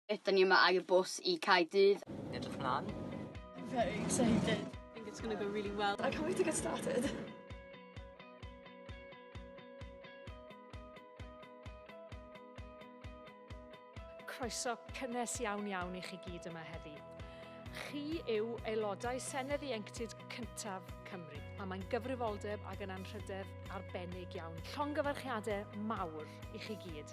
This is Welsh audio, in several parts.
Ydan ni yma air bws i Cae Dydd. Yn edrych mlan. I'm very excited. I think it's gonna go really well. I can't wait to get started. croeso cynnes iawn iawn i chi gyd yma heddi. Chi yw aelodau Senedd Ieuenctid cyntaf Cymru, a mae'n gyfrifoldeb ac yn anrhydedd arbennig iawn. Llongyfarchiadau mawr i chi gyd.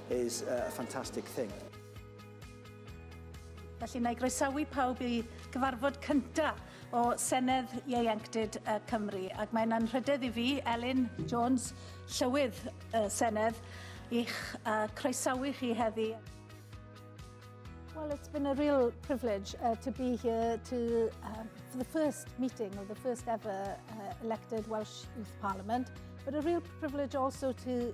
is a fantastic thing. Felly, na i groesawu pawb i gyfarfod cynta o Senedd Ieuenctid y Cymru, ac mae'n anrhydedd i fi, Elin Jones, Llywydd y Senedd, i'ch uh, croesawu chi heddi. Well, it's been a real privilege uh, to be here to, uh, for the first meeting of the first ever uh, elected Welsh Youth Parliament, but a real privilege also to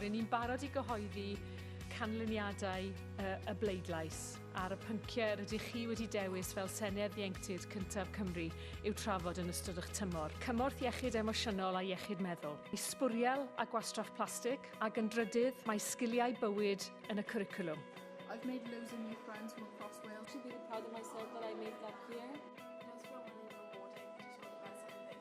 Ry'n ni'n barod i gyhoeddi canlyniadau y, y bleidlais ar y pynciau rydych chi wedi dewis fel Senedd Ieuenctid Cyntaf Cymru i'w trafod yn ystod eich tymor. Cymorth iechyd emosiynol a iechyd meddwl. I sbwriel a gwastraff plastig ac yn drydydd mae sgiliau bywyd yn y cwricwlwm. I've made loads of new friends from across Wales. Should be proud of myself that I made that clear.